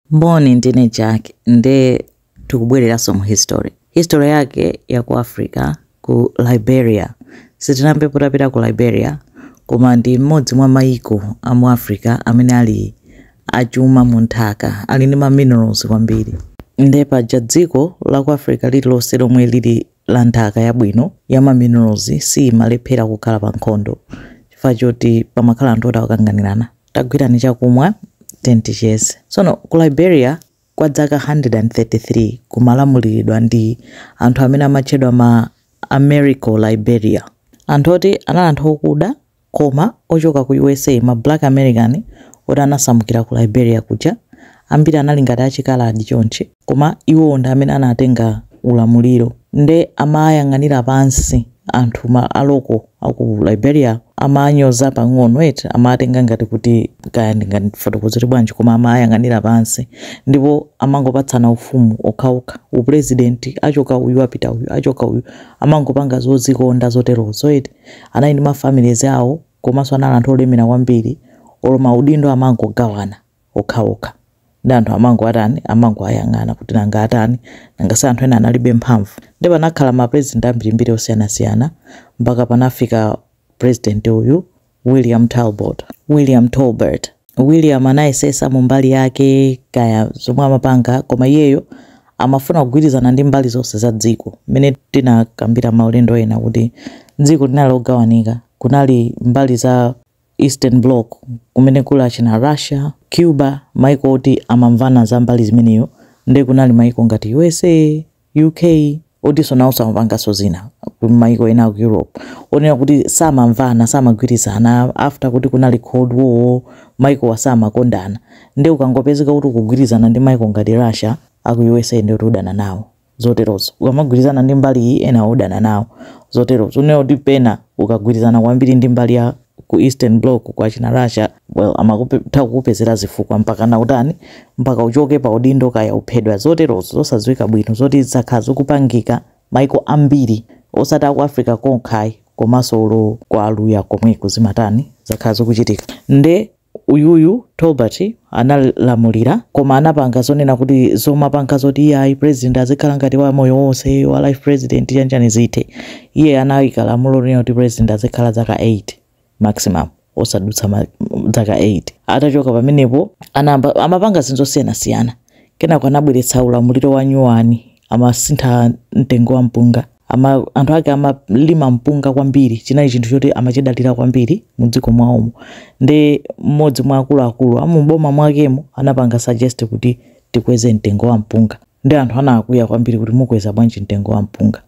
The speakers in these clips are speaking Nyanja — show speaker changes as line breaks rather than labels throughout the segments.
Moni ndine Jack nde tukubwereraso mu history. History yake ya ku Africa ku Liberia. Sitinambepo tapita ku Liberia koma ndi mmodzi mwa mayiko a mu Africa amene ali achuma mu nthaka, ali ndi ma minerals kwambiri. Nde paja dziko la ku Africa lililonse lomwe lili la nthaka yabwino ya ma minerals siimalephera kukhala pa nkhondo chifukwa choti pamakhala anthu oti akukanganirana tagwirani chakumwa tiyeni ticheze tsono ku liberia kwa dzaka 133 kumalamuliridwa ndi anthu amene amatchedwa ma Americo Liberia anthu oti anali anthu okuda Koma ochoka ku usa ma black American oti anasamukira ku Liberia kuja ambiri anali ngati achikaladi chonchi koma iwowo ndi amene anatenga ulamuliro nde amayang'anira pansi anthu ma a local aku Liberia amanyoza pang'ono eti amawatenga ngati kuti kaya ndingafotokozere bwanji koma amayang'anira pansi ndipo amangopatsana ufumu okhaokha upulezidenti achoka uyu apita uyu achoka uyu amangopanga zozikonda zoterozo eti. Anali ndi ma families awo komaso anali anthu olemera kwambiri olo ma udindo amangogawana okhaokha nde anthu amangowatani amangowayang'ana kuti nanga atani nanga si anthu ena analibe mphamvu nde panakhala ma president ambirimbiri osiyanasiyana mpaka panafika president uyu William Talbot William Tolbert William anayesesa mu mbali yake kaya zomwe amapanga koma iyeyo amafuna kugwirizana ndi mbali zonse za dziko. Mmene tinakambira maulendo ena kuti dziko linali logawanika. Kunali mbali za Eastern Block kumene kuli achina Russia, Cuba, maiko oti amamvana za mbali zimeneyo nde kunali maiko ngati usa, UK otinso nawonso amapanganso zina ku maiko ena aku Europe onena kuti samamvana samagwirizana after kuti kunali cold war maikowa samakondana nde ukangopezeka kuti ukugwirizana ndi maiko ngati Russia aku usa ndiye kuti udana nawo zoterozo ukamagwirizana ndi mbali iyi enawo udana nawo zoterozo unena kuti pena ukagwirizana kwambiri ndi mbali ya ku Eastern Bloc kwa achina Russia well amakutha kukupezera zifukwa mpakana utani mpaka uchoke pa udindo kaya uphedwa zoterozo zosadziwika bwino zoti zakhala zikupangika maiko ambiri osati ku Africa kokha ayi komanso olo kwa aluya komweko zimatani zakhala zikuchitika nde uyuyu Tolbert analamulira koma anapanga zonena kuti zomapanga zoti iye ayi president azikhala ngati wa moyo wonse wa life president chanjani zithe iye anayika lamulo lonena kuti president azikhala zaka 8 maximum osadutsa zaka 8 atachoka pamenepo amapanga zinthu zosiyanasiyana kenako anabweretsa ulamuliro wa nyuwani amasintha mtengo wa mpunga Ama, anthu ake amalima mpunga kwambiri, chinali chinthu choti amachidalira kwambiri mu dziko mwawomo. Nde mmodzi mwa akuluakulu a mu boma mwakemo anapanga suggest kuti tikweze mtengo wa mpunga. Nde anthu anakwiya kwambiri kuti mukweza bwanji mtengo wa mpunga.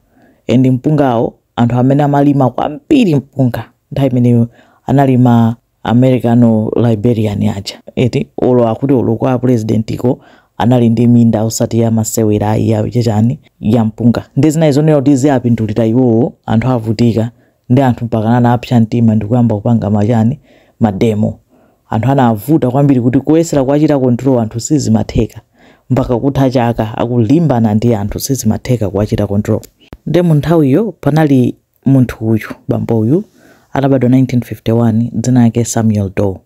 And mpungawo anthu amene amalima kwambiri mpunga nthawi imeneyo anali ma Americano-Liberian aja eti olo akuti olo kwa president ko anali ndi minda osati ya masewera ayi ya chachani ya mpunga nde zinali zonena kuti ziwapindulira iwowo anthu avutika nde anthu mpakana anapsa mtima ndikuyamba kupanga machani mademo anthu anavuta kwambiri kuti kuyesera kuwachita control anthu sizimatheka mpaka kutha chaka akulimbana ndi anthu sizimatheka kuwachita control nde mu nthawiyo panali Munthu uyu, bambo uyu, anabadwa 1951, dzina lake Samuel Doe.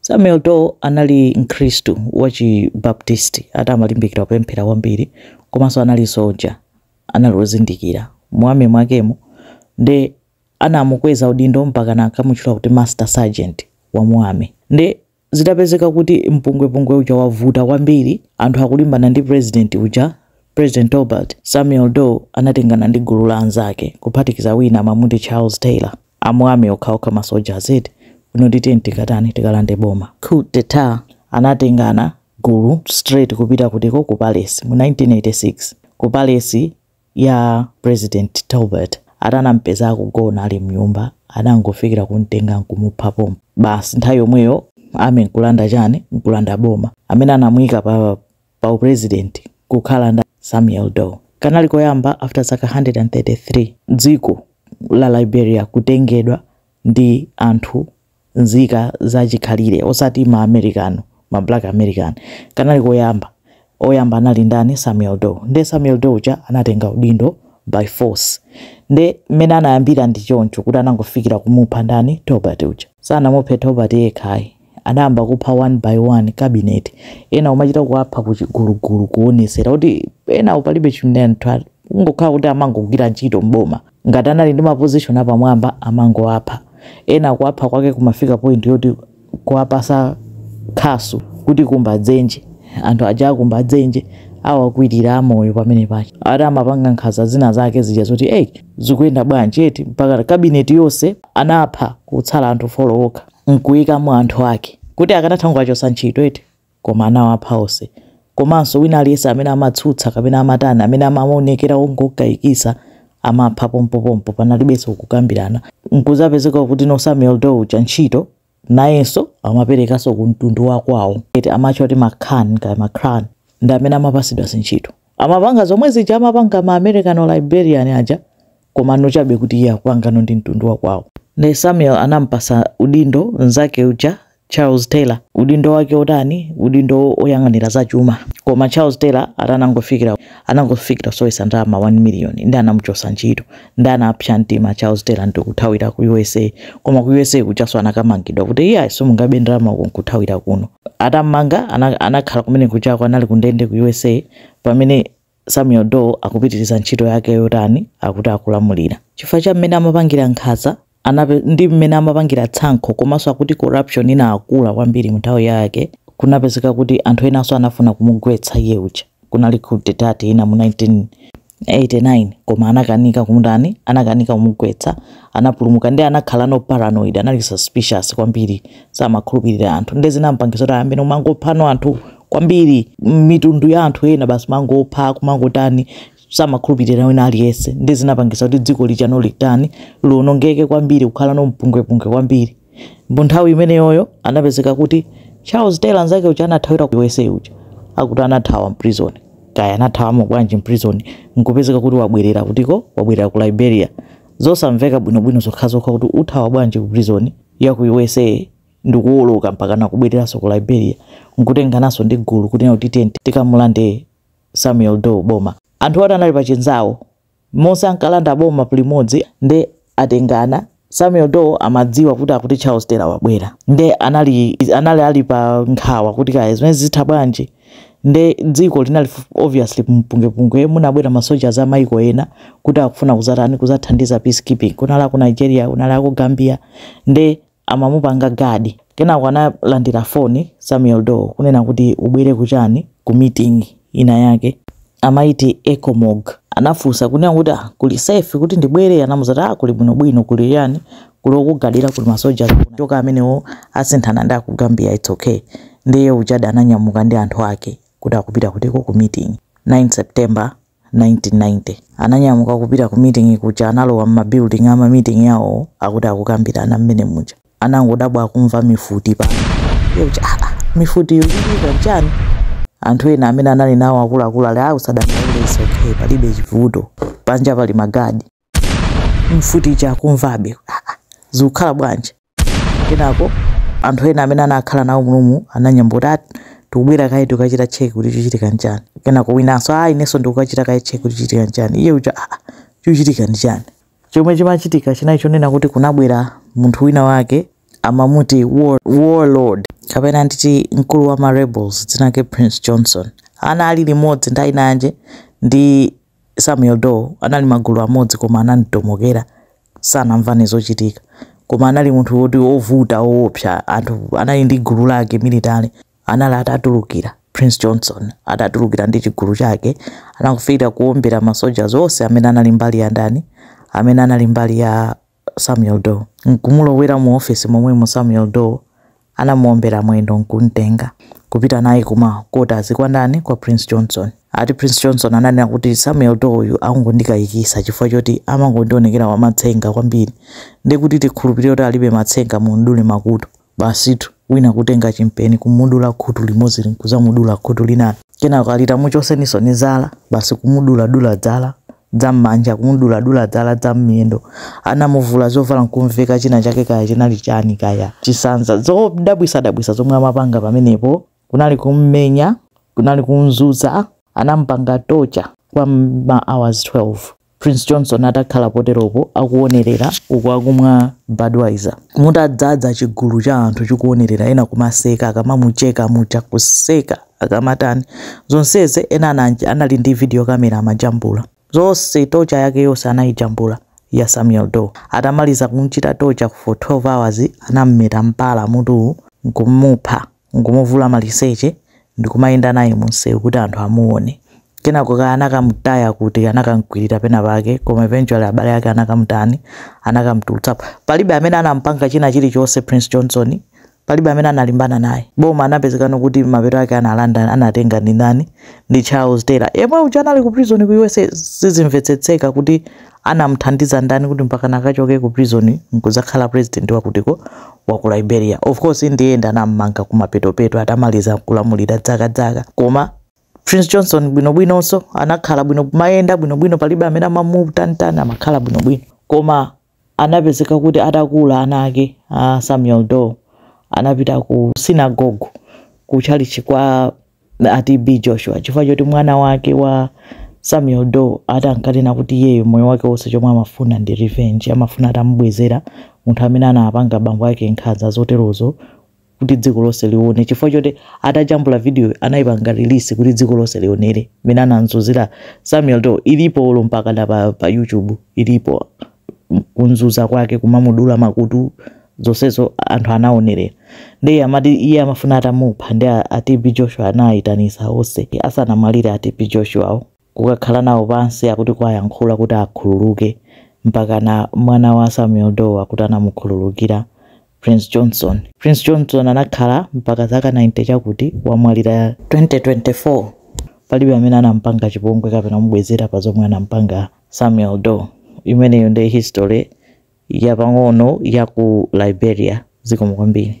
Samuel Doe anali Mkhristu wa chi Baptist, ati amalimbikira kupemphera kwambiri, komanso anali soldier, anali ozindikira mu army mwakemo, nde anamukweza udindo mpakana ankamutchula kuti Master Sergeant wa mu army. Nde. zitapezeka kuti mpungwepungwe uja wavuta kwambiri anthu akulimbana ndi president uja, President Tolbert, Samuel Doe anatengana ndi gulu la anzake kuphatikiza wina amamuti Charles Taylor, a mu army okhaokha ma soldiers eti, kunena kuti tiyeni tikatani tikalande boma, coup d'etat, anatengana gulu straight kupita kutiko ku Palace mu 1986. Ku Palace ya President Tolbert ati anamupeza akugona ali mnyumba adangofikira kumtenga nkumupha pompo basi nthawi yomweyo army nkulanda chani nkulanda boma amene anamuika pa pa u president kukhala ndani Samuel Doe kanali koyamba after zaka 133 dziko la Liberia kutengedwa ndi anthu nzika za chikhalire osati ma Americano ma black American kanali koyamba oyamba anali ndani Samuel Doe nde Samuel Doe uja anatenga udindo by force nde mmene anayambira ndi choncho kuti anangofikira kumupha ndani Tolbert uja sanamuphe Tolbert yekha ayi anayamba kupha one by one cabinet ena kumachita kuwapha kuchigulugulu kuonesera kuti enawo palibe chimene kungokhala kuti amangogwira ntchito mboma Ngati anali ndi ma position apamwamba amangowapha. Ena kuwapha kwake kumafika point yoti kuwapasa khasu kuti kumba dzenje. Anthu aja akumba dzenje awakwilira amoyo pamene paja. Ati amapanga nkhanza zina zake zija zoti hey zikuyenda bwanji eti mpaka cabinet yonse anapha kutsala anthu 4 okha nkuyikamo anthu ake. Kuti akanatha kungowachosa ntchito eti. Koma anawapha onse. Komanso, wina aliyense amene amatsutsa kapena amatani, amene amaonekera wongokayikitsa, amapha pompopompo, panalibenso kukambirana. N'kudzapezeka kuti no Samuel Doe uja ntchito, nayenso amaperekanso ku mtundu wa kwawo. Eti amatchwa kuti ma Kran kaya ma Krahn, ndi amene amapatsidwa zintchito. Amapanga zomwe zija amapanga ma Americo Liberian aja, koma no chabe kuti iye akupanga no ndi mtundu wa kwawo. Nde Samuel anamupatsa udindo mnzake uja, Charles Taylor udindo wake otani udindo oyang'anira za chuma koma Charles Taylor atanangofikira anangofikira nkusowetsa ndalama 1 million ndi anamuchosa ntchito ndi anapsa mtima Charles Taylor ndi kuthawira ku USA koma ku USA kujanso anakamangidwa kuti iye ayiso mungabe ndalama uko nkuthawira kuno atamanga anakhala kumene kujako anali kundende ku USA pamene Samuel Doe akupitiriza ntchito yake yotani? Akuti akulamulira chifukwa cha mmene amapangira nkhanza ndi mmene amapangira tsankho komanso akuti corruption inakula kwambiri mu nthawi yake kunapezeka kuti anthu enanso anafuna kumugwetsa iye uja kunali coup d'etat ina mu 1989 koma anakanika kumutani anakanika kumugwetsa anapulumuka ndi anakhala no paranoid anali suspicious kwambiri samakhulupirira anthu ndi zinampangisa kuti ayambe nomangophano anthu kwambiri mitundu ya anthu ena basi mangopha kumangotani samakhulupirira wina aliyense ndi zinapangisa kuti dziko lija no litani lionongeke kwambiri kukhala no mpungwepungwe kwambiri mu nthawi imeneyoyo anapezeka kuti charles taylor nzake uja anathawira ku usa uja akuti anathawa mprison kaya anathawamo bwanji mprison nkupezeka kuti wabwerera kutiko wabwerera ku liberia zosamveka bwinobwino zokhazokha kuti uthawa bwanji ku prison ya ku usa ndikuwoloka mpakana kubwereranso ku Liberia nkutengananso ndi gulu kunena kuti tiye tikamulande Samuel Doe boma. Anthu oti anali pa chinzawo monse ankalanda boma limodzi nde atengana Samuel Doe amadziwa kuti akuti Charles Taylor wabwera nde anali, anali ali pa nkhawa kuti kaya zimene zitha bwanji nde dziko linali obviously mpungwepungwe munabwera masoja za maiko ena kuti akufuna kuzatani kuzathandiza peacekeeping kunali ku Nigeria kunali ku Gambia nde amamupanga guard kenako analandira phone Samuel Doe kunena kuti ubwere kuchani ku meeting ina yake amaiti Ecomog anafunsa kunena kuti ah kuli safe kuti ndibwere anamuza kuti ah kuli bwino bwino kuli ndani kuli okugadira kuli masoja choka amenewo asinthana ndi aku Gambia it's okay ndiye uja Doe ananyamuka ndi anthu ake kuti akupita kutiko ku meeting 9 September 1990. Ananyamuka kupita ku meeting kuja analowa mma building ama meeting yawowo akuti akukambirana mmene muja. Anangodabwa akumva mifuti panja kuti aah mifutiyo ikuchitika nchani? Anthu ena amene anali nawo akuluakulu ali aah usadandaule it's okay palibe chivuto panja pali ma guard. mfuti chakumvabe "Ah, zikukhala bwanji kenako anthu ena amene anakhala nawo munomu anayamba kuti "Ati, tikubwera kaye tikukachita cheki kuti chikuchitika nchani kenako winanso a inenso ndikukachita kaye cheki kuti chikuchitika nchani iye uja "Ah, chikuchitika ndi chani chomwe chimachitika chinali chonena kuti kunabwera munthu wina wake amamuti war, warlord kapena nditi mkulu wa ma rebels dzina lake prince johnson anali limodzi ndi ainanje ndi Samuel Doe anali magulu amodzi koma anangotomokera sanamvane zochitika koma anali munthu woti ovuta woopsa anthu anali ndi gulu lake military anali atatulukira Prince Johnson atatulukira ndi chigulu chake anakafikira kuombera ma soldiers onse amene anali mbali ya ndani amene anali mbali ya Samuel Doe, n'kumulowera mu ofesi momwemu Samuel Doe anamuombera mwendo n'kumtenga kupita naye kuma kotazi kwa ndani kwa Prince Johnson. Ati Prince Johnson ananena kuti Samuel Doe yu akungondikayikisa chifukwa choti amangondionekera wamatsenga kwambiri ndekuti tikhulupirire kuti alibe matsenga mumdule makutu. Basitu wina kutenga chimpeni kumudula khutu limodzi nkuzamudula khutu linali. Kenako ati muchoseninsoni zala basi kumudula dula dzala dza mmanja kumudula dula dzala dza mmiyendo. Anamuvula zovala nkumveka china chake kaya chinali chani kaya chisanza zodabwisa dabwisa zomwe amapanga pamenepo. kunali kum'menya, kunali kum'zunza, anam'panga torture kwa ma hours 12 Prince Johnson atakhala poteropo akuonerera uku akumwa Budweiser mutadzadza chigulu cha anthu chikuonerera ena kumaseka akamamucheka muja kuseka akamatani zonsezi ena ananje anali ndi video camera amajambula zonse torture yake yonse anayijambula ya Samuel Doe atamaliza kumchita torture for 12 hours anam'meta mpala mutuwu nkumupha n'kumuvula maliseche ndi kumayenda naye mumsewu kuti anthu amuone. Kenako kaya anakamutaya kuti, anakam'kwirira pena pake, koma eventually abale ake anakamutani, anakam'tulutsapo. Palibe amene anam'panga china chilichonse Prince Johnson, palibe amene analimbana naye. Boma anapezekana kuti mapeto ake analanda, anatenga ndi ndani? Ndi Charles Taylor, yemwe uja anali ku prison ku usa. Sizimvetsetseka kuti anamthandiza ndani kuti mpakana akachoke ku prison nkudzakhala president wakutiko wa ku liberia of course in the end anammanga kumapetopeto atamaliza kulamulira dzaka dzaka koma prince johnson bwinobwinonso anakhala bwino mayenda bwinobwino palibe amene amamutani tani amakhala bwinobwino koma anapezeka kuti atakula ana ake a samuel doe anapita ku synagogue ku tchalitchi kwa a TB Joshua chifukwa choti mwana wake wa Samuel Doe ati ankanena kuti iyeyo moyo wake wonse chomwe amafuna ndi revenge, amafuna atamubwezera munthu amene anapanga bambo ake nkhanza zoterozo kuti dziko lonse lione chifukwa choti atajambula vidiyo anayipanga release kuti dziko lonse lionere mmene anamzunzira Samuel Doe. Ilipo olo mpakana pa, pa YouTube ilipo. kunzunza kwake kumamudula makutu zonsezo anthu anaonerera ndiye amati iye amafuna atamupha ndi a, a TB Joshua anayitanisa onse asanamwalire a TB Joshuawo kukakhala nawo pansi akuti kwayankhula kuti akhululuke mpaka na mwana wa Samuel Doe akuti anamukhululukira Prince Johnson Prince Johnson anakhala mpaka zaka 90 chakuti wamwalira 2024 palibe amene anampanga chipongwe kapena kumubwezera pa zomwe anampanga Samuel Doe. Imeneyo nde history yapang'ono ya ku Liberia. Zikomo kwambiri.